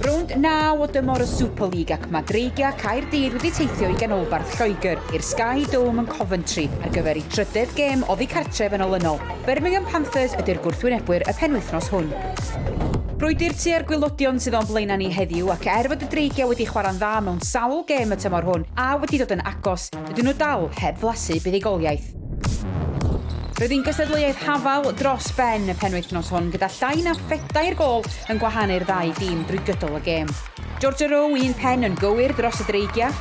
Rownd naw o dymor y Super League ac mae Dreigiau Caerdydd wedi teithio i ganolbarth Lloegr i'r Sky Dome yn Coventry ar gyfer ei trydedd gêm oddi cartref yn olynol. Birmingham Panthers ydy'r gwrthwynebwyr y penwythnos hwn. Brwydr tua'r gwylodion sydd o'n blaenau ni heddiw ac er fod y Dreigiau wedi chwarae'n dda mewn sawl gêm y tymor hwn a wedi dod yn agos, Ydyn nhw dal heb flasu buddugoliaeth? Roedd hi'n gystadleuaeth hafal dros ben y penwythnos hwn gyda llai na phedair gol yn gwahanu'r ddau dîm drwy gydol y gêm. Georgia Row un pen yn gywir dros y Dreigiau,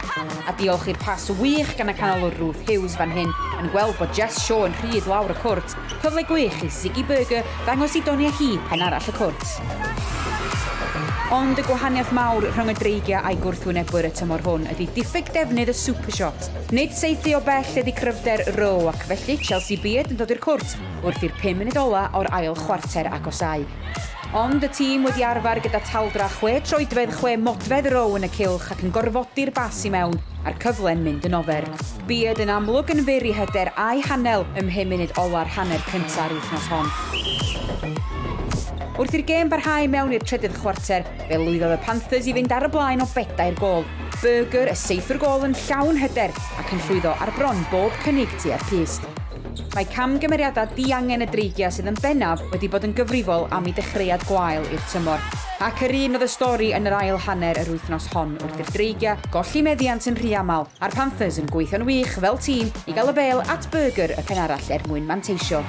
a diolch i'r pas wych gan y canolwr Ruth Hughes fan hyn yn gweld bod Jess Shaw yn rhydd lawr y cwrt Cyfle gwych i Ziggy Burger ddangos i doniau hi pen arall y cwrt. Ond y gwahaniaeth mawr rhwng y dreigiau a'i gwrthwynebwyr y tymor hwn ydy diffyg defnydd y super shot. Nid saethu o bell ydy cryfder Rowe ac felly Chelsea Beard yn dod i'r cwrt wrth i'r pum munud ola o'r ail chwarter agosáu. Ond y tîm wedi arfer gyda taldra chwe troedfedd chwe modfedd Rowe yn y cylch ac yn gorfodi'r bas i mewn a'r cyfle'n mynd yn ofer. Bued yn amlwg yn fyr i hyder a'i hanel ym mhum munud ola'r hanner cynta'r wythnos hon. Wrth i'r gêm barhau mewn i'r trydydd chwarter, fe lwyddodd y Panthers i fynd ar y blaen o bedair gôl. Burger, y seithwr gôl yn llawn hyder ac yn llwyddo ar bron bob cynnig tua'r pyst. Mae camgymeriadau diangen y Dreigiau sydd yn bennaf wedi bod yn gyfrifol am eu dechreuad gwael i'r tymor, ac yr un oedd y stori yn yr ail hanner yr wythnos hon wrth i'r Dreigiau golli meddiant yn rhy aml a'r Panthers yn gweithio'n wych fel tîm i gael y bêl at Burger y pen arall er mwyn manteisio.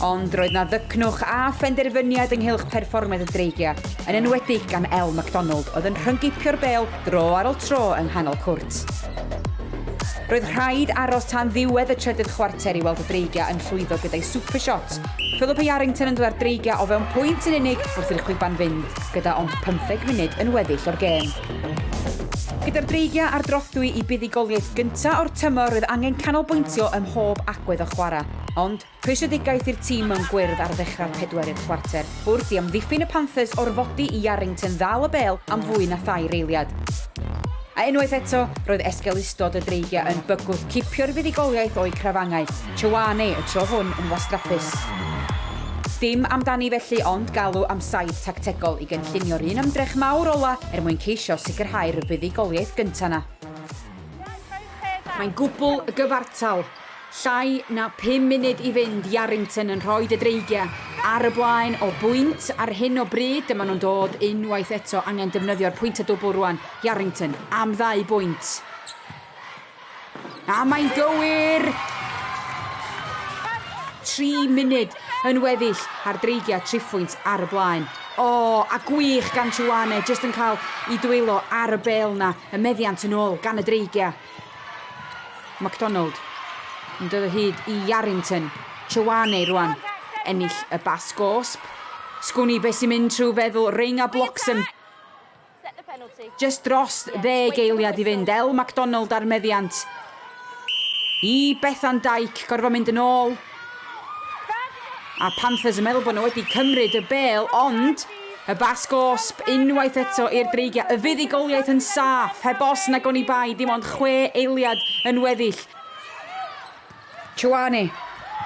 Ond roedd 'na ddycnwch a phenderfyniad ynghylch perfformiad y Dreigiau, yn enwedig gan Elle McDonald oedd yn rhyngipio'r bêl dro ar ol tro yng nghanol cwrt. Roedd rhaid aros tan ddiwedd y trydydd chwarter i weld y Dreigia yn llwyddo gyda'i super shot. Philip Yarrington yn dod â'r Dreigia o fewn pwynt yn unig wrth i'r chwiban fynd, gyda ond pymtheg munud yn weddill o'r gêm. Gyda'r Dreigia ar drothwy i buddugoliaeth gynta' o'r tymor roedd angen canolbwyntio ym mhob agwedd o chwarae, ond Rhwystredigaeth i'r tîm mewn gwyrdd ar ddechrau'r pedwerydd chwarter. Wrth i amddiffyn y Panthers orfodi i Yarrington ddal y bêl am fwy na thair eiliad. A unwaith eto, roedd esgeulustod y Dreigiau yn bygwth cipio'r fuddugoliaeth o'u crafangau, Choane y tro hwn yn wastraffus. Dim amdani felly ond galw am saib tactegol i gynllunio'r un ymdrech mawr ola' er mwyn ceisio sicrhau'r fuddugoliaeth gynta' 'na. Mae'n gwbl gyfartal. Llai na phum munud i fynd, Yarrington yn rhoi De Dreigiau ar y blaen o bwynt ar hyn o bryd, dyma nhw'n dod unwaith eto, angen defnyddio'r pwynt a dwbl rwan, Yarrington am ddau bwynt. A mae'n gywir! Tri munud yn weddill a'r Dreigiau triphwynt ar y blaen. O, a gwych gan Chuane, jyst yn cael i dwylo ar y bel na, y meddiant yn ôl gan y Dreigiau. McDonald yn dod o hyd i Yarrington. Ioane rwan. Ennill y bas gosb. Sgwni beth sy'n mynd trwy feddwl Reinga Bloxham. Just dros ddeg eiliad i fynd. El McDonald ar meddiant. I Bethan Dyke, gorfod mynd yn ôl. A Panthers yn meddwl bod nhw wedi cymryd y bêl, ond y bas gosb unwaith eto i'r Dreigiau. Y fuddugoliaeth yn saff, heb os nag oni bai, dim ond chwe eiliad yn weddill. Ioane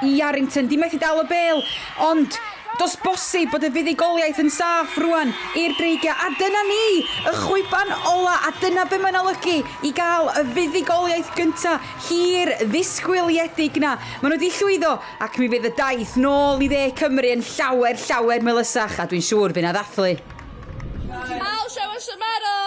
i Yarrington, di methu dal y bêl, ond dos bosib bod y fuddugoliaeth yn saff rwan i'r Dreigiau. A dyna ni, y chwiban ola, a dyna be mae'n olygu i gael y fuddugoliaeth gynta hir ddisgwyliedig 'na. Maen nhw 'di llwyddo, ac mi fydd y daith nôl i dde Cymru yn llawer, llawer melysach, a dwi'n siŵr bydd 'na ddathlu. I'll show us a medal!